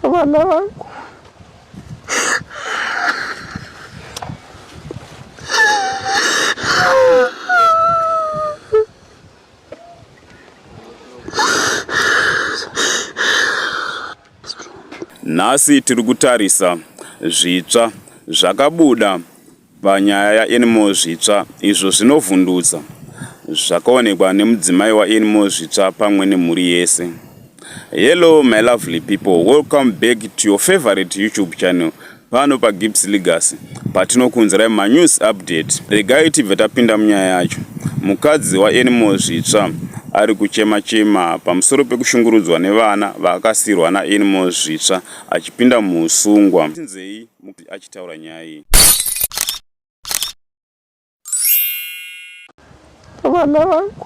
vana vangu nhasi tiri kutarisa zvitsva zvakabuda Panyaya yaEnmore Zvitsva, izvo zvinovhundutsa zvakaonekwa nemudzimai waEnmore Zvitsva pamwe nemhuri yese. Hello my lovely people, welcome back to your favorite YouTube channel pano paGibbs Legacy patinokuunzirai manews update. Regai tibve tapinda munyaya yacho. Mukadzi waEnmore Zvitsva ari kuchema chema pamusoro pekushungurudzwa nevana vaakasirwa naEnmore Zvitsva achipinda muhusungwa. Tinzei? mukadzi achitaura nyaya iyi vana vangu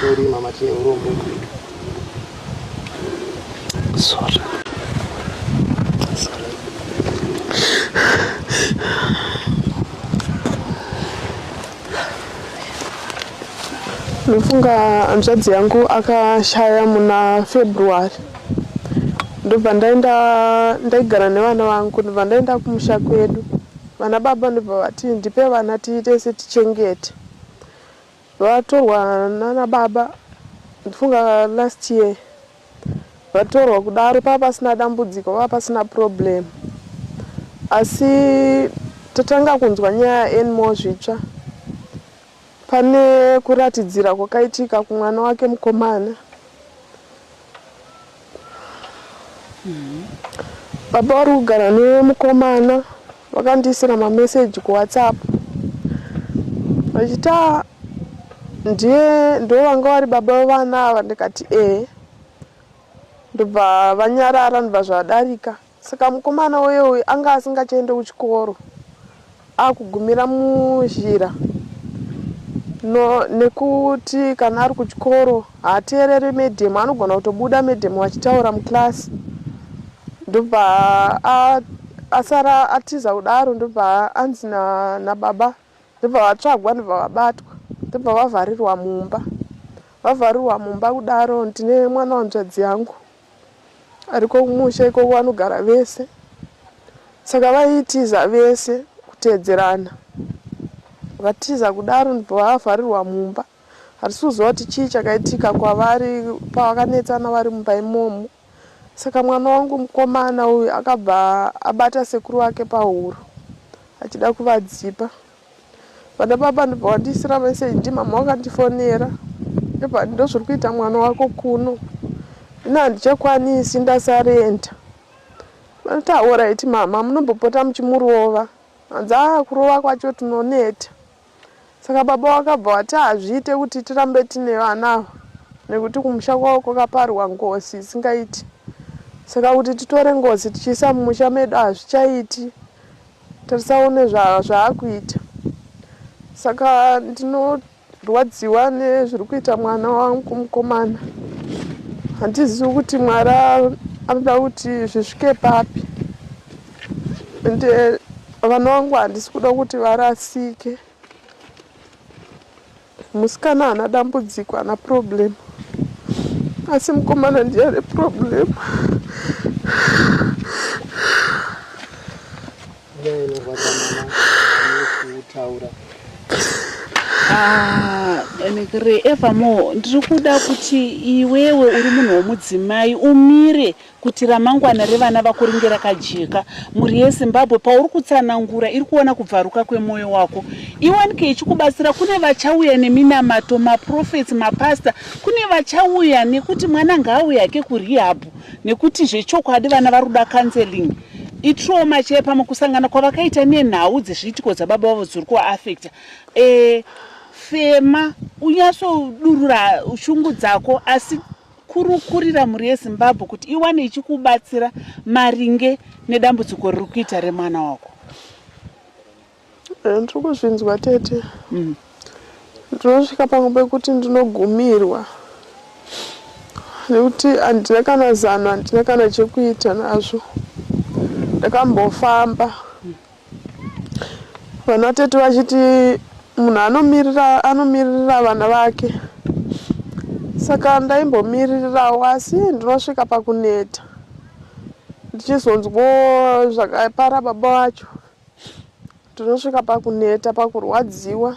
Sorry mama tine urombo. Sorry. Sorry. Ndofunga hanzvadzi yangu akashaya muna February ndobva ndaenda ndaigara nevana vangu ndobva ndaenda kumusha kwedu vana baba ndobva vati ndipe vana tiite setichengete Vatorwa nana baba ndifunga last year vatorwa kudaro pava pasina dambudziko pava pasina problem asi tatanga kunzwa nyaya anymore zvitsva pane kuratidzira kwakaitika kumwana wake mukomana Baba vari kugara nemukomana vakandiisira mameseji kuwhatsapp vachiti ah, ndiye ndo vanga vari baba vevana ava ndikati ee ndobva vanyarara ndobva zvadarika Saka mukomana uye uyu anga asingachaende kuchikoro akugumira muzhira no, nekuti kana ari kuchikoro haateerere medhemu anogona kutobuda medhemu vachitaura muclass ndobva asara atiza kudaro ndobva anzi nababa na ndobva vatsvagwa ndobva vabatwa ndobva vavharirwa mumba vavharirwa mumba kudaro ndine mwana wanzvadzi yangu ariko kumusha ikoko anogara vese saka vaitiza vese kuteedzerana vatiza kudaro ndipo vaavharirwa mumba hatisi kuziva kuti chii chakaitika kwavari pavakanetsana vari mumba imomo saka mwana wangu mukomana uyu akabva abata sekuru vake pahuro achida kuvadzipa vana baba ndobva wandiisira meseji mama wakandifonera ndobva ndozviri kuita mwana wako kuno ino handichakwanisi ndasarenda vanoti aoraiti mama munombopota muchimurova hanzi a kurova kwacho tinoneta saka baba wakabva wati hazviite kuti tirambe tine vana ava nekuti kumusha kwavo kwakaparwa ngozi isingaiti saka kuti titore ngozi tichiisa mumusha medu hazvichaiti Tarisa one zvaakuita. Saka ndinorwadziwa nezviri kuita mwana wangu mukomana. Handizivi kuti Mwari anoda kuti zvisvike papi. Ende eh, vana vangu handisi kuda kuti varasike. Musikana haana dambudziko, haana problem. Asi mukomana ndiye ane problem. Nyaya inorwadza mama kutaura. Ah, Anekere, evermore ndiri kuda kuti iwewe uri munhu womudzimai umire kuti ramangwana revana vako ringe rakajeka mhuri yezimbabwe pauri kutsanangura iri kuona kubvaruka kwemwoyo wako iwanike ichikubatsira kune vachauya neminamato maprofets mapasta kune vachauya nekuti mwana ngaauye hake kurehabhu nekuti zvechokwadi vana vari kuda counseling itrauma chee pamwe kusangana kwavakaita nenhau dzezviitiko dzababa vavo dziri kuaafecta e, eh, fema unyatsodurura shungu dzako asi kurukurira mhuri yezimbabwe kuti iwane ichikubatsira maringe nedambudziko riri kuita remwana wako eh, ndiri kuzvinzwa tete mm. ndinosvika pamwe pekuti ndinogumirwa nekuti handina kana zano handina kana chekuita nazvo ndakambofamba Vana tete vachiti munhu anomirira anomirira vana vake saka ndaimbomiririrawo asi ndinosvika pakuneta ndichizonzwo zvakapara baba vacho ndinosvika pakuneta pakurwadziwa